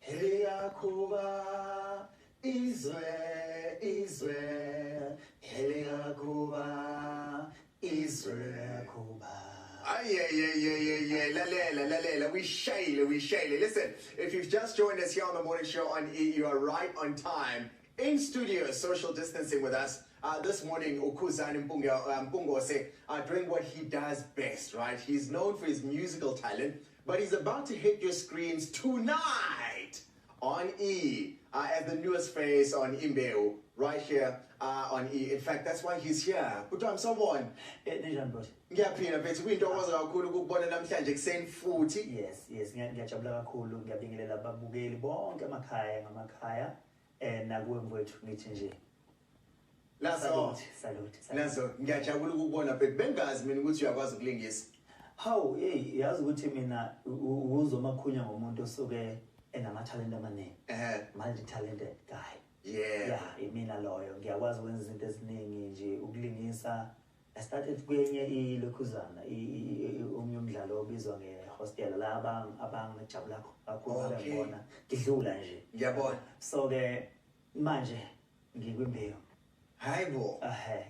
Heliyakuba izwe izwe heliyakuba izwe kuba Ayeyeyeyeye, lalela, lalela, uyishayile, uyishayile. Listen, if you've just joined us here on the morning show on E, you are right on time. In studio, social distancing with us. Uh, this morning, Ukuzani Mpunga, um, Mpungose uh, doing what he does best, right? He's known for his musical talent, But he's about to hit your screens tonight on E uh, as the newest face on Imbeu, right here uh, on E. In fact, that's why he's here. But I'm someone. Eh, Ninjani bhuti? Ngiyaphila mfethu kuyintokozo kakhulu ukukubona namhlanje kuseni futhi. Yes, yes, ngiya- ngiyajabula kakhulu ngiyabingelela ababukeli bonke amakhaya ngamakhaya Eh nakuwe mfowethu ngithi nje. Lazo. Salute. Lazo ngiyajabula ukubona bhek bengazi mina ukuthi uyakwazi ukulingisa. Hawu hey yazi ukuthi mina uzomakhunya ngomuntu osuke enamathalente amaningi. Eh multi talented guy. Yeah. Yeah imina loyo ngiyakwazi ukwenza izinto eziningi nje ukulingisa I started kwenye ilokhuzana omunye umdlalo obizwa ngehostela la abangijabula kakhulu babengibona ngidlula nje ngiyabona so-ke manje ngikwimbewu hayi bo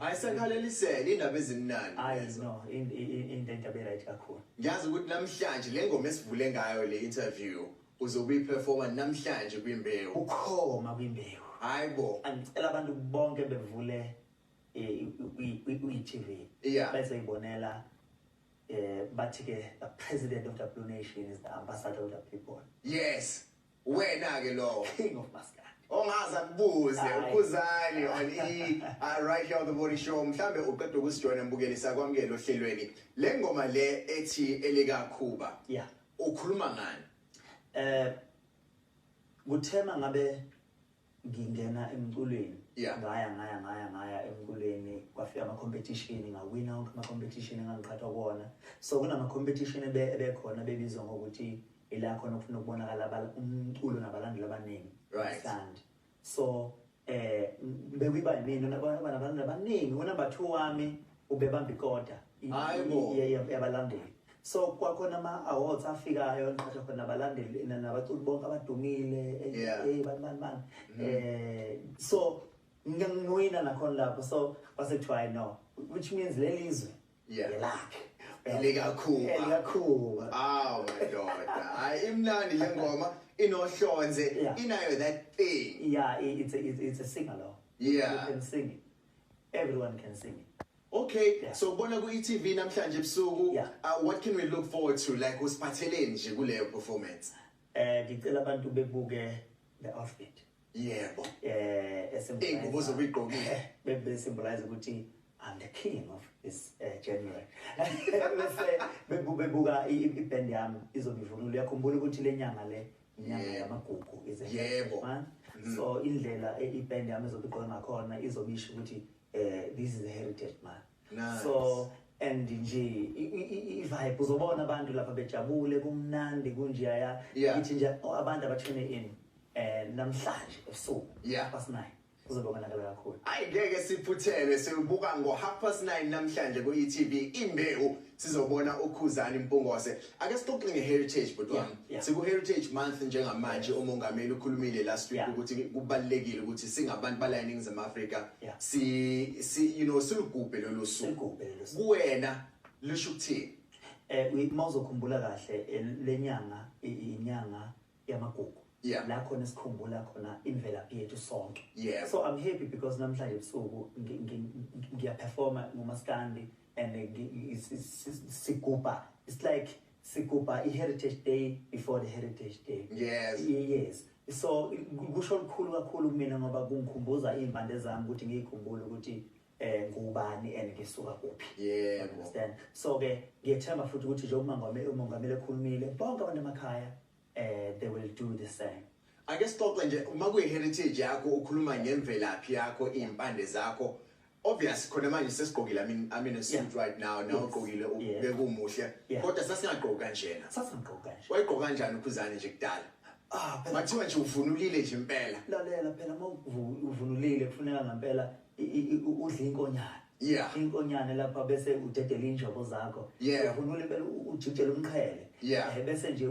ayisakhalelisele indaba ezimnandi hayi no into into right kakhulu ngiyazi ukuthi namhlanje le ngoma esivule ngayo le interview uzokuyiperforma namhlanje kwimbewu ukhoma kwimbewu hayi bo angicela abantu bonke bevule kwi-tv yeah. bese ibonela um eh, bathi-ke the president of the blue nation is the ambassador of the people yes wena-ke lowo king of maskad ongaze akubuze ukhuzani on e uh, right here on the morning show mhlambe uqeda ukusijoyina mbukeli sakwamukela ohlelweni le ngoma le ethi elikakhuba yeah ukhuluma ngani eh kuthema ngabe ngingena emculweni yeah. ngaya ngaya ngaya ngaya emculweni kwafika ama-competition ngawina wonke ama-competition engangiqhathwa kuwona so kunama-competition ebekhona bebizwa ngokuthi ila khona kufuna ukubonakala umculo nabalandeli abaningi right. and so eh bekuyiba yimina nabantu abaningi unumber two wami ubebamba ikota yabalandeli so kwakhona ama-awards afikayo enqatha khona abalandeli nabaculi bonke abadumile eyi bani bani bani um so ngiwina nakhona lapho so kwase kuthiwa i no which means leli izwe yelakhe elikakhuba elikakhuba awu madoda hayi imnandi le ngoma inohlonze inayo that thing yeah it's a, it's a singer lo yeah you can sing it Everyone can sing it. Okay, yeah. so bona ku ETV namhlanje ebusuku. Yeah. Uh, what can we look forward to like usiphatheleni nje kuleyo performance? Eh ngicela abantu bebuke the outfit. Yebo. Eh esembuzo. Ingubo zokuyigqokile. Bebe symbolize ukuthi I'm the king of this uh, January. Bese bebuka iband yami izobivunulo yakhumbula ukuthi lenyanga le inyanga yamagugu is a Yebo. month Mm. so indlela e- iband yami ezobe igqoke ngakhona izobe isho ukuthi eh this is a heritage month Nice. so and nje i- i- i- i-vibe uzobona abantu lapha bejabule kumnandi kunjeyaya Yeah. ngithi nje oh, abantu abatshone in eh namhlanje ebusuku Yeah. past nine Sizobonakala kakhulu. Ayi ngeke siphuthelwe silubuka ngo half past 9 namhlanje ku ETV imbewu sizobona uKhuzani Mpungose. Ake sixoxe nge heritage bhuti wami. Yeah, yeah. Siku heritage month njengamanje yes. umongameli ukhulumile last week yeah. ukuthi kubalekile ukuthi singabantu bala eningizimu Africa yeah. si si you know silugubhe lolu suku. Kuwena lisho ukuthini? Eh mawuzokhumbula kahle eh, lenyanga inyanga yamagugu Yeah. la khona esikhumbula khona imvelaphi yethu sonke Yeah. so i'm happy because namhlanje ebusuku ngi- ngi- ngi- ngiyaperforma ngomaskandi and eh, ngi- ngi- is- is- is- sigubha it's like sigubha i-heritage day before the heritage day Yes. Ye- yes so i- ku- kusho lukhulu kakhulu kumina ngoba kungikhumbuza iy'mpande zami ukuthi ngiyikhumbule ukuthi eh ngubani and ngisuka kuphi yebo understand so ke ngiyethemba futhi ukuthi nje umangamele umongameli ekhulumile bonke abantu emakhaya eh they will do the same ake sixoxe nje uma kuyi heritage yakho ukhuluma ngemvelaphi yakho impande zakho obvious khona manje sesigqokile amin amin a suit right now now ugqokile ubeke umuhle kodwa sasingagqoki kanjena sasingagqoki kanje wayigqoka kanjani ukhuzane nje kudala Ah, phela kuthiwa nje uvunulile nje impela. Lalela phela uma uvunulile kufuneka ngempela udla inkonyana yeah inkonyane lapha bese udedela injobo zakho yeah uvunula impela ujijela umqhele yeah eh, bese nje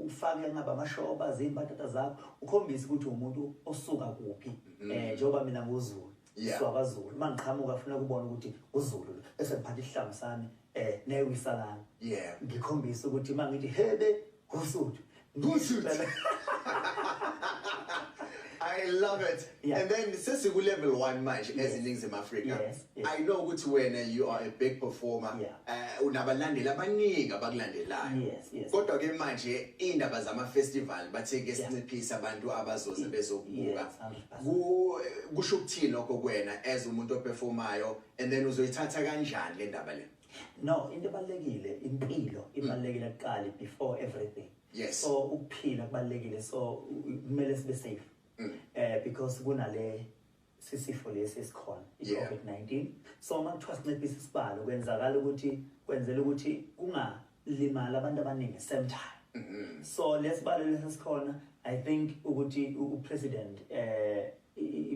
ufake ngaba amashoba zimbatata zakho ukhombisa ukuthi umuntu osuka kuphi mm-hmm. eh njengoba mina nguzulu siwabazulu uma ngiqhamuka funa kubona ukuthi uzulu bese ngiphatha isihlangu sami eh newisalana yeah ngikhombisa ukuthi mangithi hebe Ngusuthu. Ngusuthu. I love it. Yeah. And then since you level one match yes. as Nings in Africa, yes. Yes. I know which when uh, you are a big performer, yeah. uh, unabalandela abaningi abakulandelayo. Yes, yes. Kodwa ke manje indaba zama festival bathe ke sinciphisa abantu abazoze bezokubuka. Kusho ukuthini lokho kwena as umuntu operformayo and then uzoyithatha kanjani le ndaba le? No, into ebalekile impilo ibalekile kuqali before everything. Yes. So ukuphila kubalekile so kumele sibe safe. Mm. Eh because kunale sisifo lesi esikhona i-COVID-19 so uma kuthiwa sinciphisa isibalo kwenzakala ukuthi kwenzela ukuthi kunga limala abantu abaningi same time mm -hmm. so lesibalo lesesikhona i think ukuthi upresident eh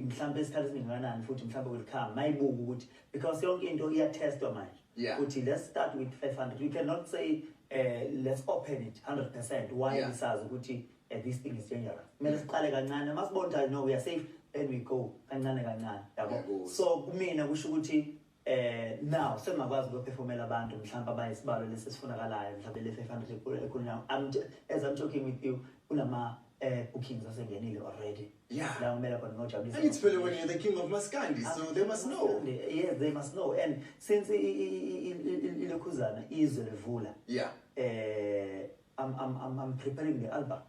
mhlawumbe esikhathi esingakanani futhi mhlawumbe will come mayibuka ukuthi because yonke into iyatestwa manje ukuthi yeah. let's start with 500 you cannot say uh, let's open it 100% why yeah. sazi ukuthi uh, this thing is dangerous kumele siqale kancane masibona ukuthi no we are safe then we go kancane kancane yabo so kumina kusho ukuthi Eh now sengakwazi ukuphefomela abantu mhlawumbe abayisibalo lesesifunakalayo mhlawumbe le 500 ekhulunywa I'm as I'm talking with you kulama eh bookings asengenile already yeah la umela khona ngojabulisa and it's really when you're the king of maskandi so they must know yes they must know and since ilokhuzana izwe levula yeah eh I'm I'm I'm I'm preparing the album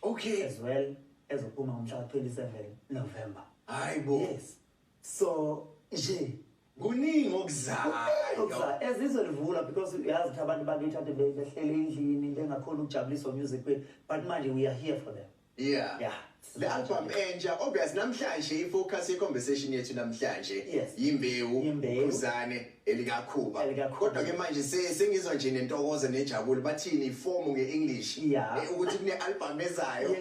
okay as well ezophuma ngomhla ka 27 November hayibo yes So nje kuningi okuzayo okuzayo ezizwe livula because uyazi ukuthi abantu bakithi ade behlele endlini bengakhona ukujabuliswa music kwethu but manje we are here for them yeah yeah le album entsha obvious namhlanje ifocus ye conversation yethu namhlanje yimbewu uzane elikakhuba kodwa ke manje sengizwa nje nentokozo nejabule bathini iform nge English eh, ukuthi kune album ezayo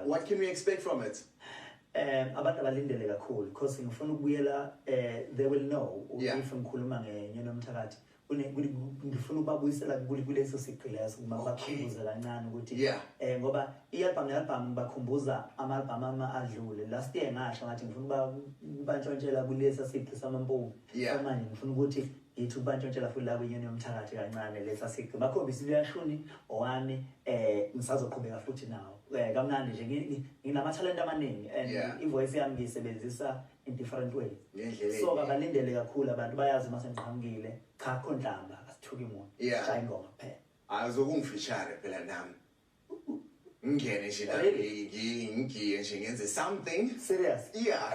what can we expect from it Um abantu abalindele kakhulu because ngifuna ukubuyela um they will know yeah. if ngikhuluma ngenyoni yomthakathi ngifuna ukubabuyisela kuleso sigqi leso uma bakhumbuze kancane ukuthi um ngoba i-albhamu ne-albhamu ngibakhumbuza ama-albhamu ama adlule last year ngasho ngathi ngifuna uba kubantshontshela kulesa sigqi samampungu yeah. manje ngifuna ukuthi Yithi ubantshontshela futhi la kwinyoni yomthakathi kancane lesa siqi. Bakhombisa into yashuni owami eh ngisazoqhubeka futhi nawo. Eh kamnandi nje ngi- nginamathalente amaningi and Yeah. ivoice yami ngiyisebenzisa in different ways. Ngendlela So enye. kabalindele kakhulu abantu bayazi uma sengiqhamukile cha akho nhlamba asithuki muntu. Yeah. Shaya ingoma kuphela. azokungifishare phela nami ngingene nje la Really? ngi- ngi- ngigiye nje ngenze something Serious. yeah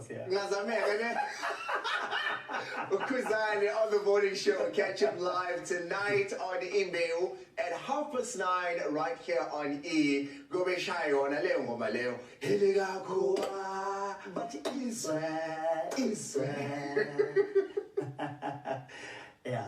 Yeah. Ngazameka ne. Ukuzani on the morning show. Catch up live tonight on Imbeu at half past nine right here on E. Gobe shayona leyo ngoma leyo. Hele kakho ah, but izwe izwe. yeah.